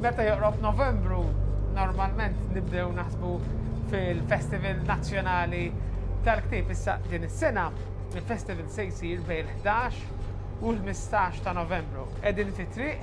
Meta joqrob Novembru, normalment nibdew naħsbu fil-Festival Nazzjonali tal-Ktib issa din is-sena. Il-festival se jsir bejn 11 u l-15 ta' Novembru. Qegħdin fi triq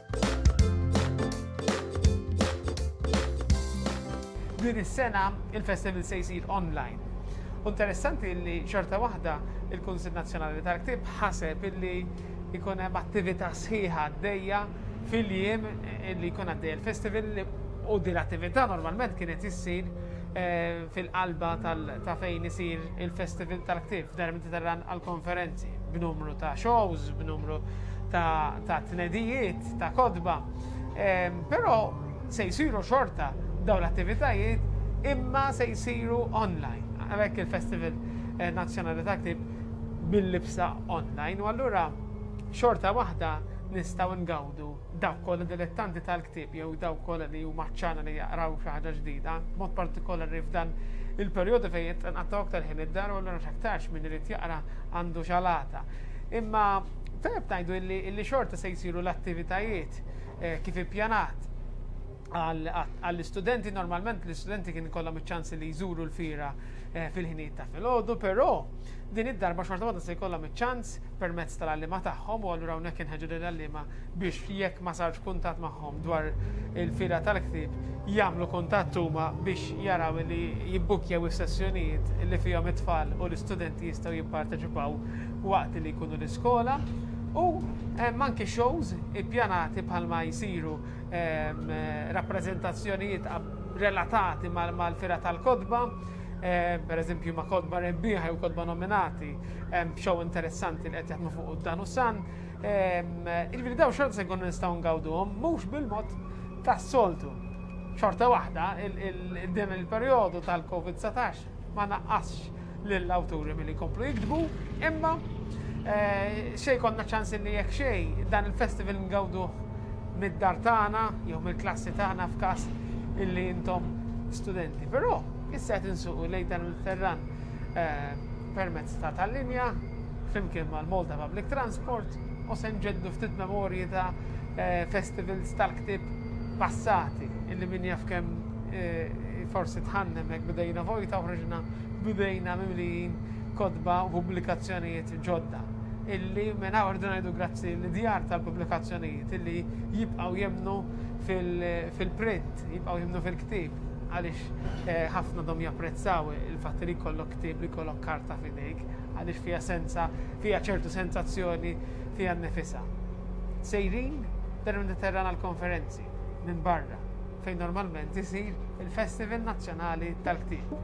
Din is-sena il-festival se jsir online. Interessanti li xorta waħda il-Kunsil Nazzjonali tal-Ktib ħaseb illi jkun hemm attività sħiħa għaddejja fil-jiem li jkun għaddej il-festival u din l-attività normalment kienet issir fil-qalba ta' fejn isir il-Festival tal-Ktieb f'Dar Mediterran għall-konferenzi, b'numru ta' shows, b'numru ta' tnedijiet, ta' kodba. Però se jsiru xorta dawn l-attivitajiet imma se jsiru online. Għalhekk il-Festival eh, Nazzjonali tal-Ktieb bil-libsa online u allura xorta waħda nistgħu ngawdu Dawk kollha dilettanti tal-ktieb jew dawk kollha li huma ħċana li jaqraw xi ħaġa ġdida, b'mod partikolari f'dan il-perjodu fejn qed inqattgħu aktar ħin id-dar u allura x'aktarx min irid jaqra għandu x'alata. Imma tajjeb ngħidu illi xorta se jsiru l-attivitajiet kif ippjanat. Għall-istudenti, normalment l-istudenti kien ikollhom iċ-ċans li jżuru l-fira eh, fil-ħinijiet ta' filgħodu, però din id-darba xorta waħda se jkollhom iċ-ċans permezz tal-għallima tagħhom u allura hawnhekk inħeġġu lil għallima biex jekk ma sarx kuntatt magħhom dwar il-fira tal-ktieb jagħmlu kuntatt huma biex jaraw li jibbukkjaw is-sessjonijiet li fihom it-tfal u l-istudenti jistgħu jipparteċipaw waqt li jkunu l-iskola u eh, manki shows ippjanati bħalma jsiru rappreżentazzjonijiet relatati mal-fira tal-kodba, per eżempju ma' kodba rebbieħa jew kodba nominati, b'xow interessanti li qed jaħdmu fuq dan u san. Iġbiri daw xorta se nkunu nistgħu ngawduhom mhux bil-mod tas-soltu. Xorta waħda, din il-perjodu tal-COVID-19 ma naqqasx lill-awturi milli jkomplu jiktbu, imma eh, xej konna ċans li jekk xej dan il-festival ngawdu mid-dar tagħna jew mill-klassi tagħna f'każ illi intom studenti. Però issa qed insuqu lejn dan il-ferran eh, permezz ta' tal-linja flimkien mal-Malta Public Transport u se nġeddu ftit memorji ta' eh, festivals tal-ktib passati illi min jaf kemm eh, forsi tħannem hekk bidejna vojta uħriġna bidejna mimlijin kodba u pubblikazzjonijiet ġodda illi minn hawn irdu ngħidu grazzi li djar tal-pubblikazzjonijiet illi jibqgħu jemnu fil-print, jibqgħu jemnu fil-ktib għaliex eh, ħafna dom japprezzaw il-fatt li jkollok ktib li jkollok karta fidejk. għaliex fiha senza, fiha ċertu sensazzjoni fiha nnifisha. Sejrin dan il-Mediterran għall-konferenzi minn barra fejn normalment isir il-Festival Nazzjonali tal-Ktieb.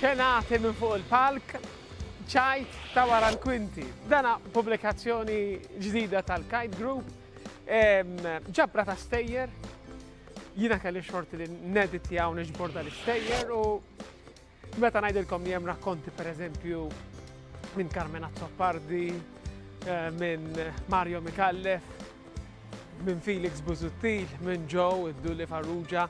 xenati minn fuq il-palk ċajt ta' wara l-kwinti. Dana publikazzjoni ġdida tal-Kite Group, ġabra ta' stejjer Jiena kelli xorti li nedit li hawn iġbor dal-istejjer u meta ngħidilkom li hemm rakkonti pereżempju minn Carmen Azzopardi, eh, minn Mario Mikallef, minn Felix Buzuttil, minn Joe, id-Dulli Farrugia,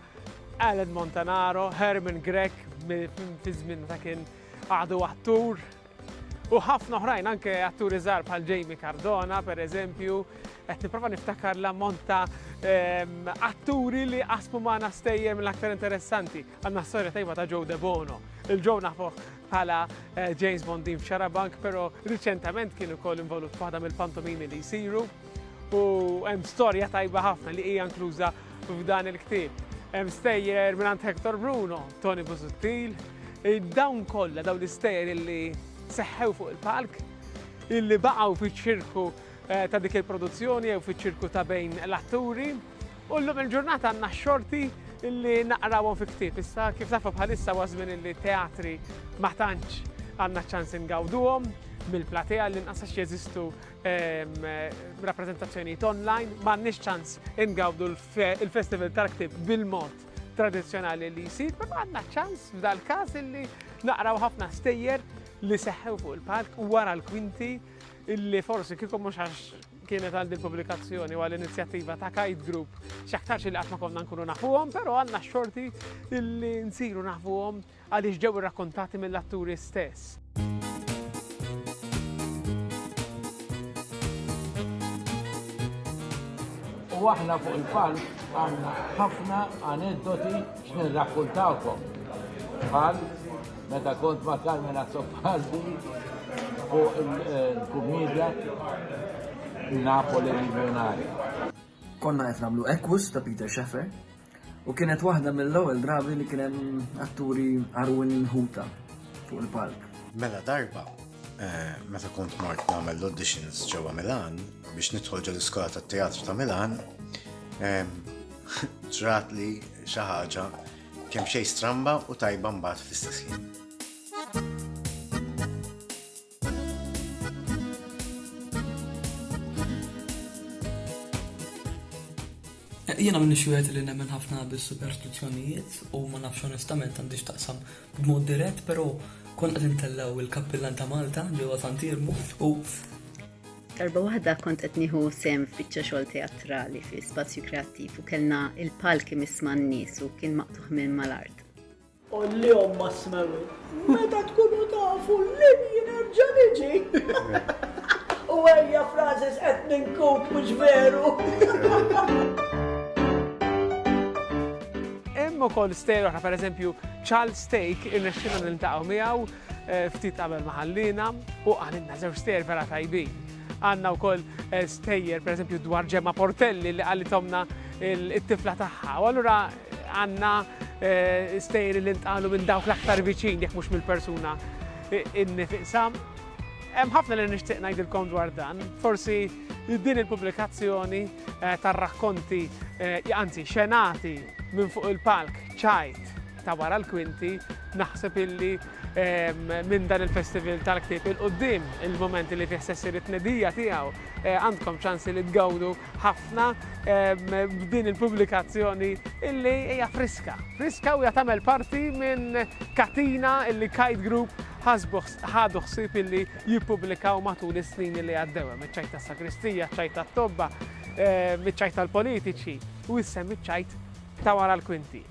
Alan Montanaro, Herman Grek, fi żmien ta' kien għadu attur, U ħafna oħrajn anke atturi żgħar bħal Jamie Cardona, per eżempju, qed nipprova niftakar l-ammont ta' ehm, atturi li qasmu magħna stejjer mill-aktar interessanti. Għandna storja tajba ta' Joe Debono. Il-Joe nafu bħala eh, James Bondin f'Xarabank, però riċentament kien ukoll involut f'waħda mill-pantomimi li jsiru u hemm storja tajba ħafna li hija inkluża F'dan il-ktieb hemm stejjer mingħand Hector Bruno, Tony Busuttil, dawn kollha dawn l-istejjer illi seħħew fuq il-palk, illi baqgħu fiċ-ċirku eh, ta' dik il-produzzjoni jew fiċ-ċirku ta' bejn l-atturi. U llum il-ġurnata għandna xorti illi naqrawhom fi ktieb. Issa kif tafu bħalissa ważmin illi teatri ma tantx għandna ċans ingawduhom mill-platea li nqasax jeżistu rappreżentazzjonijiet online, m'għandniex ċans ingawdu l-Festival tal-Ktib bil-mod tradizzjonali li jsir, ma għandna ċans f'dal-każ illi naqraw ħafna stejjer li seħħew fuq il-palk u wara l-kwinti illi forsi kieku mhux għax kienet għal din pubblikazzjoni u għal inizjattiva ta' Kite Group x'aktarx li qatt ma konna nkunu nafuhom, però għandna xorti illi nsiru nafuhom għaliex ġew irrakkontati mill-atturi stess. U aħna fuq il-palk għandna ħafna aneddoti x'nirrakkuntawkom. Bħal meta kont ma' Carmen Azzopardi fuq il-kumedja Napoli Miljonarja. Konna qed nagħmlu Equus ta' Peter Shaffer, U kienet waħda mill-ewwel drabi li kien hemm atturi arwin ħuta fuq il-palk. Mela darba, eh, meta kont mort nagħmel l-auditions ġewwa Milan biex nidħol ġol iskola tat-teatru ta' Milan, eh, ġrat li xi ħaġa kemm xejn stramba u tajba mbagħad fl-istess ħin. Jiena minnix wieħed li nemmen ħafna bis-superstizzjonijiet u ma nafx onestament għandi x'taqsam b'mod dirett, però konna qed intellgħu il-kappillan ta' Malta ġewwa Sant Irmu u Darba waħda kont qed nieħu sehem f'biċċa xogħol teatrali fi spazju kreattiv u kellna il-palki misma' n-nies u kien maqtuħ minn mal-art. Qollihom ma' Smewil, meta tkunu tafu lil jien nerġa' niġi. U ejja Francis qed ninkut mhux veru. Hemm ukoll stejjer oħra, pereżempju Charles Stake irnexxilna niltaqgħu miegħu eh, ftit qabel ma ħallina u qalilna żewġ stejjer vera tajbin. Għandna wkoll eh, stejjer pereżempju dwar ġemma Portelli li qalithomna it-tifla tagħha. U allura Għandna stejjer li ntqalu minn dawk l-aktar viċin jekk mhux mill-persuna nnifiqsha. Hemm ħafna li nixtieq ngħidilkom dwar dan. Forsi din il-pubblikazzjoni tar-rakkonti, anzi xenati minn fuq il-palk ċajt ta' wara l-kwinti, naħseb illi minn dan il-Festival tal-Ktieb 'il quddiem, il-mument li fih se ssir it-tnedija tiegħu, għandkom ċans li tgawdu ħafna b'din il-pubblikazzjoni illi hija friska. Friska u hija tagħmel parti minn katina illi Kite Group ħadu ħsieb illi jippubblikaw matul is-snin illi għaddew hemm iċ-ċajt tas-sagristija, ċajt tat-tobba, iċ-ċajt tal-politiċi u issa hemm iċ-ċajt ta' wara l-kwinti.